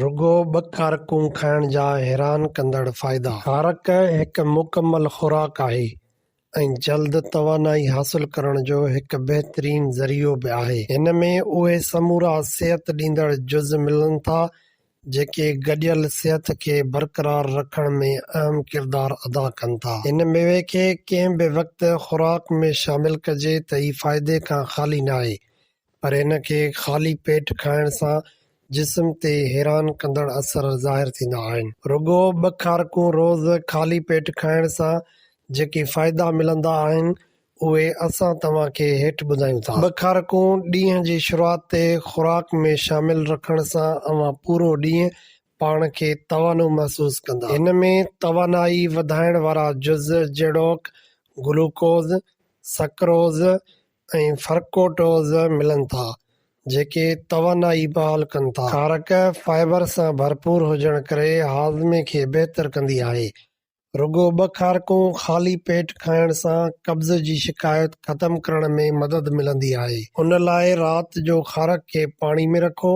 رڳو ٻه کارڪون کائڻ جا حيران ڪندڙ فائدا. کارڪ هڪ مڪمل خوراڪ آهي ۽ جلد توانائي حاصل ڪرڻ جو هڪ بهترين ذريعو به آهي. هن ۾ اهي سمورا صحت ڏيندڙ جز ملن ٿا، جيڪي گڏيل صحت کي برقرار رکڻ ۾ اهم ڪردار ادا ڪن ٿا. هن ميوي کي ڪنهن به وقت خوراڪ ۾ شامل ڪجي ته هي فائدي کان خالي ناهي. پر ان کي خالي پيٽ کائڻ سان جسم تي حيران ڪندڙ اثر ظاهر ٿيندا آهن. رڳو ٻه کارڪون روز خالي پيٽ کائڻ سان جيڪي فائدا ملندا آهن اهي اسان توهان کي هيٺ ٻڌايون ٿا. ٻه کارڪون ڏينهن جي شروعات تي خوراڪ ۾ شامل رکڻ سان اوهان پورو ڏينهن پاڻ کي توانو محسوس ڪندا. هن ۾ توانائي وڌائڻ وارا جز جهڙوڪ گلوڪوز، سڪروز، ۽ فرڪوٽوز ملن ٿا، جيڪي توانائي بحال ڪن ٿا. کارڪ فائبر سان ڀرپور هجڻ ڪري هاضمي کي بهتر ڪندي آهي. رڳو ٻه کارڪون خالي پيٽ کائڻ سان قبض جي شڪايت ختم ڪرڻ ۾ مدد ملندي آهي. ان لاء رات جو کارڪ کي پاڻي ۾ رکو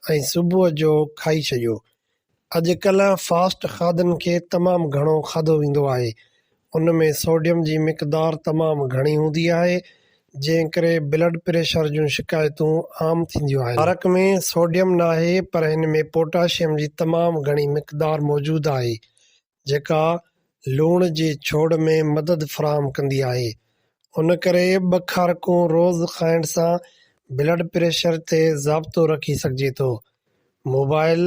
۽ صبح جو کائي ڇڏيو. اڄ ڪلهه فاسٽ کاڌن کي تمام گهڻو کاڌو ويندو آهي ان ۾ سوڊيم جي مقدار تمام گهڻي هوندي آهي جنهن ڪري بلڊ پريشر جون شڪايتون عام ٿينديون آهن. عرق ۾ سوڊيم ناهي پر هن ۾ پوٽاشيم جي تمام گهڻي مقدار موجود آهي جيڪا لوڻ جي ڇوڙ ۾ مدد فراهم ڪندي آهي ان ڪري ٻه کارڪون روز کائڻ سان بلڊ پريشر تي ضابطو رکي سگهجي ٿو. موبائل،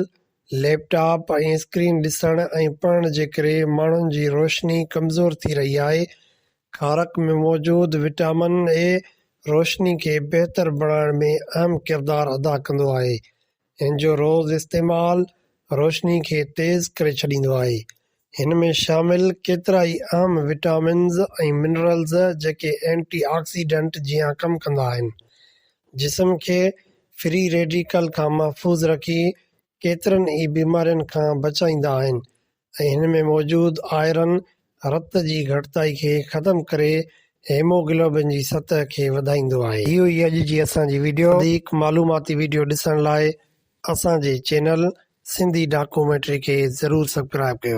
ليپ ٽاپ ۽ اسڪرين ڏسڻ ۽ پڙهڻ جي ڪري ماڻهن جي روشني ڪمزور ٿي رهي آهي، کارڪ ۾ موجود وٽامن اي روشني کي بهتر بڻائڻ ۾ اهم ڪردار ادا ڪندو آهي. هن جو روز استعمال روشني کي تيز ڪري ڇڏيندو آهي. هن ۾ شامل ڪيترائي اهم وٽامنز ۽ منرلز جيڪي اينٽي آڪسيڊنٽ جيان ڪم ڪندا آهن. جسم کي فري ريڊيڪل کان محفوظ رکي ڪيترن ئي بيمارين کان بچائيندا آهن ۽ هن ۾ موجود آئرن رت جي گهٽتائي کي ختم ڪري هيموگلوبن جي سطح کي وڌائيندو آهي. هي هئي اڄ جي اسان جي وڊيو. وڌيڪ معلوماتي وڊيو ڏسڻ لاء اسان جي چينل سنڌي ڊاڪومينٽري کي ضرور سبڪرائب ڪيو.